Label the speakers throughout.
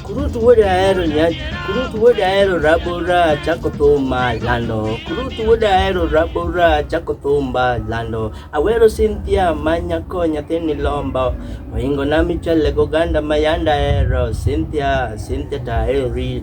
Speaker 1: Kurutu wode ahero nyanya, kurutu wode ahero rabora chako thumba lando, kurutu wode ahero rabora chako thumba lando. Awero Cynthia manya ko nyathini lombo, oingo na michele goganda mayanda hero Cynthia, Cynthia tahero real.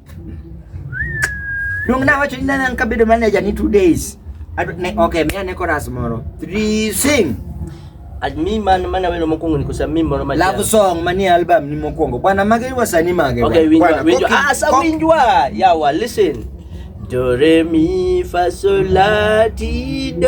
Speaker 2: Luong na wacho ni nana an kabedo manager ni two days. Adu- ne- Okay, miya ne chorus moro. Three sing. At mi
Speaker 1: man mana welo mokwongo ni kosa mi moro ma Love song manie
Speaker 2: album ni mokwongo. Bwana mage iwa sani mage. Okay, winjwa, Bwana, winjwa. koki-
Speaker 1: Ah, sa kok- winjwa. Yawa, listen. Do re mi fa sol la ti do.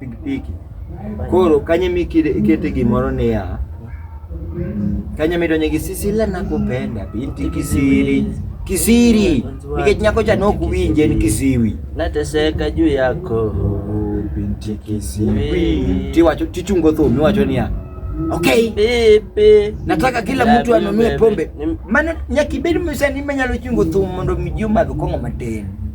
Speaker 2: pikipiki. Koro kanye mikete gimoro niya kanye midonje gi sisi la nakupenda binti kisiri kisiri nikech nyako cha nok winje
Speaker 1: ni
Speaker 2: kisiwi
Speaker 1: nateseka
Speaker 2: juu yako binti kisiwi tiwacho tichungo thum iwacho niya Okay. Pepe.
Speaker 1: Nataka kila mtu
Speaker 2: anunue pombe. Maana nyakibedi msanii manyalo chungo thum mondo mjuma vikongo mateni.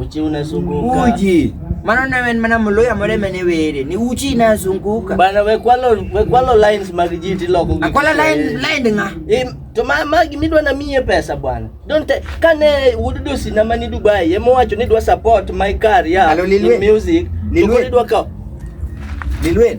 Speaker 1: Uchi unazunguka. Uji. Maana
Speaker 2: nawe mana mloya mole mene wele. Ni uchi inazunguka. Bana we kwalo
Speaker 1: we kwalo lines magijiti loko. Akwala line line
Speaker 2: nga. E, to ma magi
Speaker 1: midwa na miye pesa bwana. Don't take kane wududu sina mani Dubai. Yemo wacho ni dwa support my career in music. Lilwe. Lilwe.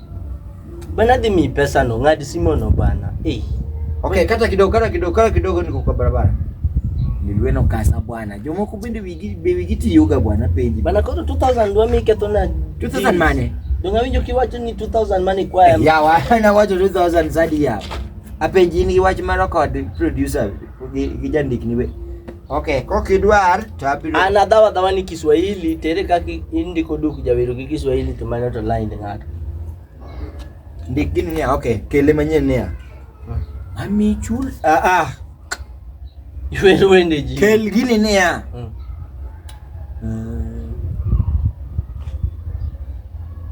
Speaker 1: Bana dhi mi pesa no, ng'ad simo no bana. Eh. Okay,
Speaker 2: kata kidogo, kata kidogo, kata kidogo niko kwa barabara. Nilweno kasa bwana. Jomoko bende wigi be wigi tiyoga bwana penji. Bana koro 2000 dwa
Speaker 1: mi keto na 2000 mane?
Speaker 2: Donga winjo kiwacho
Speaker 1: ni 2000 mane kwa ya. Ya wa na wacho 2000
Speaker 2: zadi ya. Apenji ni wach mara kod producer gi jandik ni we. Okay, ko kidwar to abiro. An adhawa dhawa ni
Speaker 1: Kiswahili tere kaka indiko duk jawero gi Kiswahili to manyo to line ng'ato.
Speaker 2: Ndik gini niya, okay, kele manyien niya. Ami chul ah ah.
Speaker 1: Iwero wende ji. Kel gini niya.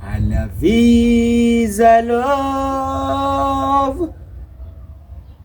Speaker 2: Ana visa love.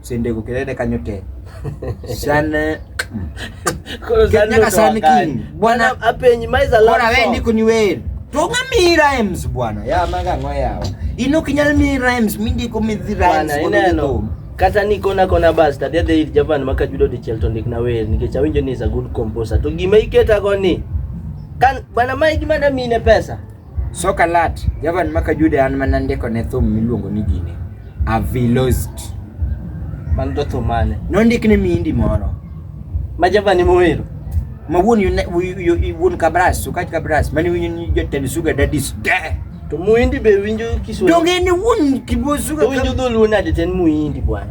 Speaker 2: sende go kelele kanyo te sana Koro sani Kenya kasani ndotoa gani? king. Bwana- Bwana apenyi maiza love
Speaker 1: bora we song. ndiko ni weri
Speaker 2: tonga mi rhymes bwana ya manga ngo yawa ino kinyal mi rhymes mi ndiko mi dhi rhymes Bwana, kono ineno ndiko.
Speaker 1: kata ni kona kona bas tabia dhi ir japan maka judo di chelto ndik na wer nikech awinjo ni is a good composer to gima iketa go ni kan bana ma gima da mine pesa Soka Lat,
Speaker 2: Javan ma Kajude an mana ndiko ne thum miluongo ni Gine. Avilost. Man
Speaker 1: to thum mane? Nondik ne miindi
Speaker 2: moro. Ma Javan
Speaker 1: ema owero? Ma
Speaker 2: wuon wuon Kabras, Sukaj Kabras, mane winyo ni jotend Suga Dadis. De! To muindi
Speaker 1: be winjo Kiswahili? Donge ni wuon
Speaker 2: Kibo Suga Kabras. To winjo dholuo
Speaker 1: nade
Speaker 2: ten
Speaker 1: muindi bwana?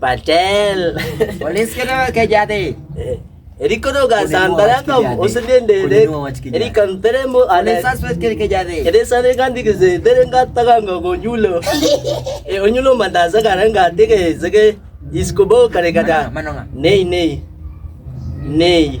Speaker 1: Patel. Walis ka naman
Speaker 2: kay Jate. Eri ko no
Speaker 1: ga san bara ka usun den de de. Eri kan tere mo ale sa swet kere ke jade.
Speaker 2: Eri sa ne kan dige ze
Speaker 1: tere ga ta ga ngo go nyulo. E onyulo manda za ga ran ga dige zege isko bo kare ga da. Nei nei. Nei.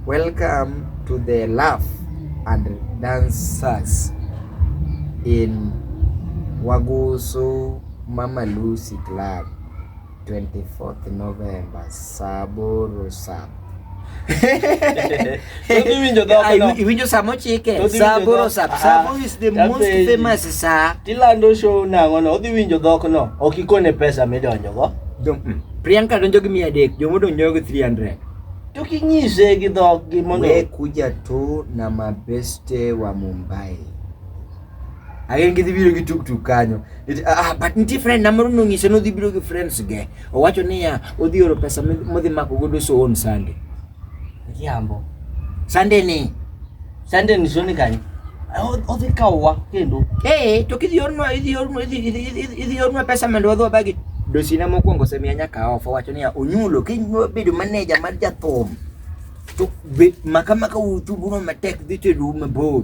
Speaker 2: Welcome to the laugh and dancers in Wagusu Mama Lucy Club 24th November Saboro Sab. Iwinjo saa mochike Saboro Sab. Sabo is the most famous saa. Tilando show
Speaker 1: nang'o no odhi winjo dhok no ok ikone pesa midonjogo. Mm. Priyanka
Speaker 2: donjo gi mia adek, jomo donjo gi 300. tukinyise
Speaker 1: gi dhoggi mondo we kuja tu
Speaker 2: na mabeste wa Mumbai agin gidhi biro gi tuktuk kanyo ah, but nitie friend na moro nonyise nodhi biro gi friends ge owacho niya odhi oro pesa modhi mako godo so on Sunday jambo
Speaker 1: Sunday
Speaker 2: ni Sande ni shoni
Speaker 1: kanyi. Othi kawa kendo. Eh, to kidhi ornwa
Speaker 2: idhi ornwa idhi idhi ornwa pesa mendo wadho bagi. Dosina mokwongo semia nyaka ofa wacho niya onyulo kibedo maneja mar jathum to maka maka uthubuno matek dhi tedu mabor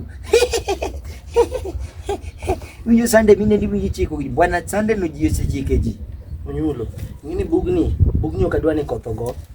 Speaker 2: winjo sande mine ndi winjo chiko gi bwana sande no ji osechike ji onyulo
Speaker 1: ngini bugni bugni okadwa ni kotho go